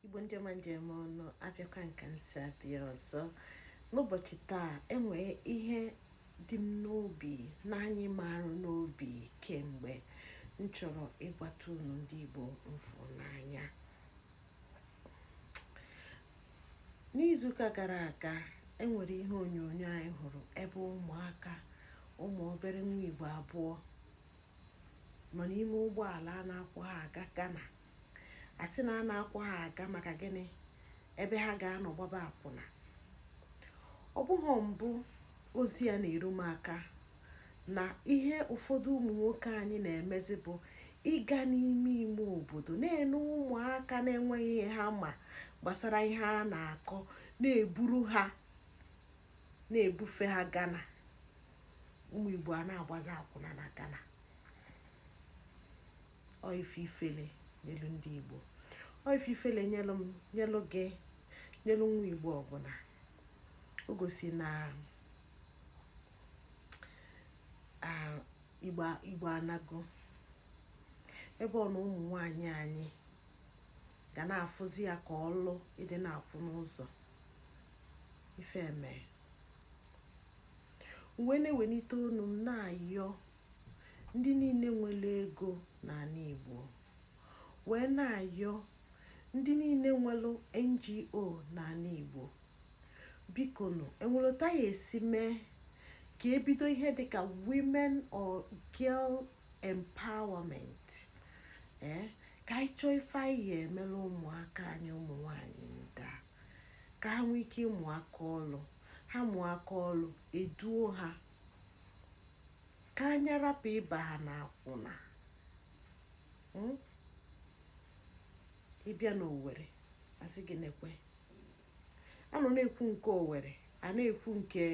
igbo ndị ọma m ji eme ọnụ abịakwa m ka m si abịa ọzọ n'ụbọchị taa enwere ihe dị m n'obi na-anyị m arụ n'obi kemgbe m chọrọ ịgwata unu ndị igbo m fụ n'anya n'izuụka gara aga enwere ihe onyonyo anyị hụrụ ebe ụmụaka ụmụ obere nwa igbo abụọ nọ n'ime ụgbọala a na-akwọ ha aga Ghana a sị na a na-akwọ ha aga maka gịnị ebe ha ga-anọ gbaba akwụna ọ bụghị mbụ ozi ya na-eru m aka na ihe ụfọdụ ụmụ nwoke anyị na-emezi bụ ịga n'ime ime obodo na-ene ụmụaka na-enweghị ihe ha ma gbasara ihe a na-akọ na-eburu ha na-ebufe ha Ghana ụmụ Igbo a na-agbazi akwụna na Ghana ọ ife ifele nyelu ndị igbo ọ ife ifele nyelu m nyelu gị nyelu nwa igbo ọbụla o gosi na igbo anago ebe ọ na ụmụ nwanyị anyị ga na-afụzi ya ka ọlụ ịdị na-akwụ n'ụzọ ife mee m wee na-ewelite onu m na-ayọ ndị niile nwere ego n'ala Igbo wee na-ayọ ndị niile nwere NGO n'ala Igbo biko nụ enwelu etu a ya-esi mee ka ebido ihe dịka women or girl empowerment ee eh, ka anyị chọọ ife anyị ya emela ụmụaka anyị ụmụ nwanyị ndị a ka ha nwee ike ịmụ aka ọlụ ha mụọ aka ọlụ eduo ha ka anyị rapụ ịba ha n'akwụna hmm? ị bịa n'owere asị gị nekwe a nọ na-ekwu nke owere a na-ekwu nke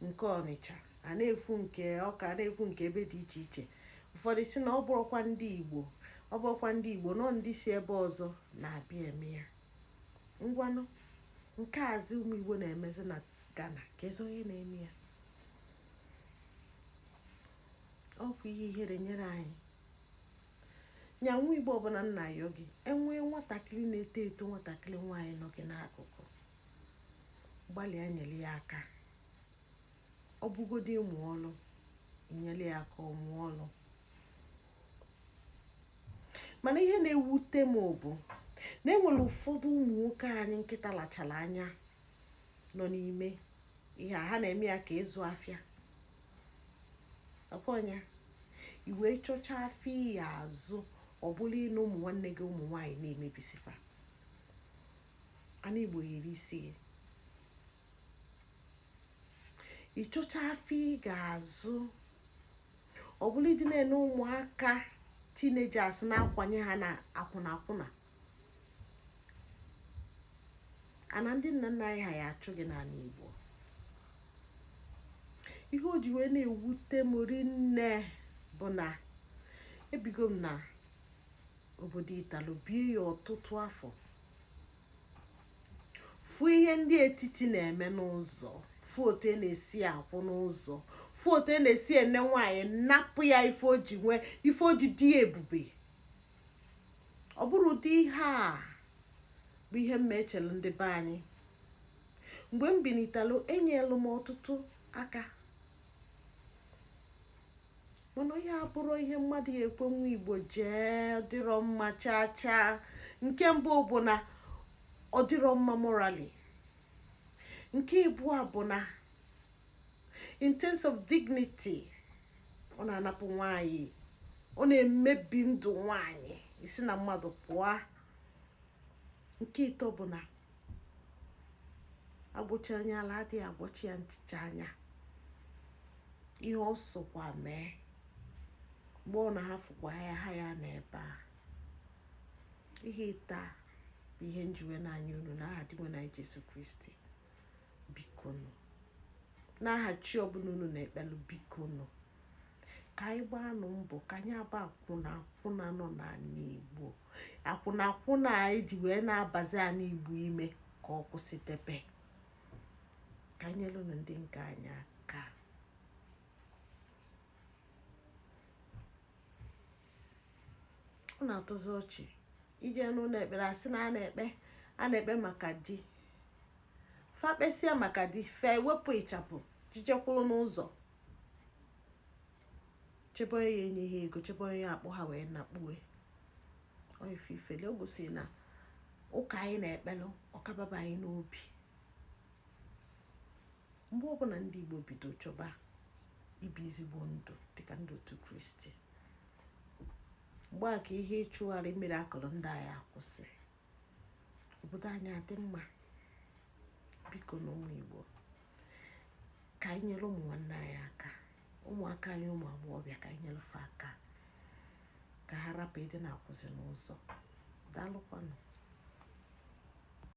nke ọnịcha a na-ekwu nke ọka a na-ekwu nke ebe dị iche iche ụfọdụ sị na ọ bụrọkwa ndị igbo ọ bụrọkwa ndị igbo na ọ ndị si ebe ọzọ na-abịa eme ya ngwanụ nke a zi ụmụ igbo na-emezi na ghana keezi onye na-eme ya ọ bụ ihe ihere nyere anyị nya nwa igbo ọbụla m na-ayọ gị enwee nwatakịrị na-eto eto nwatakịrị nwaanyị nọ gị n'akụkụ gbalịa nyere ya aka ọ bụgodị ịmụ ọlụ i nyere ya aka ọ mụọ ọlụ mana ihe na-ewute m bụ na enwere ụfọdụ ụmụ nwoke anyị nkịta lachara anya nọ n'ime ihe a ha na-eme ya ka ịzụ afịa ọkwọnya i wee chọchaa afịa ị ya-azụ ọ bụla ịnụ ụmụ nwanne gị ụmụ nwaanyị na-emebisi fa ana igbo yiri isi gị ị chọchaa afịa ị ga-azụ ọ bụrụ ịdị na-ene ụmụaka teenagers na-akwanye ha n'akwụna akwụna ana ndị nna nna anyị ha ya-achụ gị n'ana Igbo ihe o ji wee na-ewute m rinne bụ na ebigo m na obodo italo bie ya ọtụtụ afọ fụ ihe ndị etiti na-eme n'ụzọ fụ otu e na-esi akwụ n'ụzọ fụ otu e na-esi ene nwaanyị napụ ya ife o ji nwee ife o ji dị ebube ọ bụrụ ụdị ihe a bụ ihe m echelu ndị be anyị mgbe m binitelu enyelu m ọtụtụ aka mana ọ ya-abụrụ ihe mmadụ ya-ekwe nwa igbo jee dịrọ mma chaa chaa nke mbụ bụ na ọ dịrọ mma morally nke ịbụa bụ na in terms of dignity ọ na-anapụ nwanyị ọ na-emebi ndụ nwanyị isi na mmadụ pụọ nke ịtọ bụ na a gwọchaa onye ala adịghị agwọcha ya nchicha anya ihe ọ sọkwa mee mgbe ọ na-ahafụkwa ya ha ya n'ebe a ihe ịtọ a bụ ihe m ji wee na-ayọ unu n'aha dinwenụ anyị Jesu Kristi bikonu n'aha chi ọbụla unu na-ekpelu bikonu ka anyị gbaanụ mbọ ka anyị aba akwụna akwụna nọ n'ana igbo akwụna akwụna anyị ji wee na-abazi ana igbo ime ka ọ kwụsị debe ka anyị nyelụnụ ndị nke anyị aka ọ na-atọzi ọchị i jee n'ụnọ ekpere a sị na a na-ekpe a na-ekpe maka di fa kpesịa maka di fa ewepụ ịchafụ jee je kwụrụ n'ụzọ chebe onye ya-enye ha ego chebe onye ya-akpọ ha wee nakpuwe ife ifele o gosi na ụka anyị na-ekpelu ọ ka ababa anyị n'obi mgbe ọbụna ndị igbo bido chọba ibi ezigbo ndụ dịka ndị otu kristi mgbe a ka ihe ịchụgharị miracle ndị a ya-akwụsị obodo anyị adị mma bikonụ ụmụ igbo ka anyị nyelụ ụmụ nwanne anyị aka ụmụaka anyị ụmụ agbọghọbịa ka anyị nyelụ fa aka ka ha rapụ ịdị na-akwụzi n'ụzọ daalụkwanụ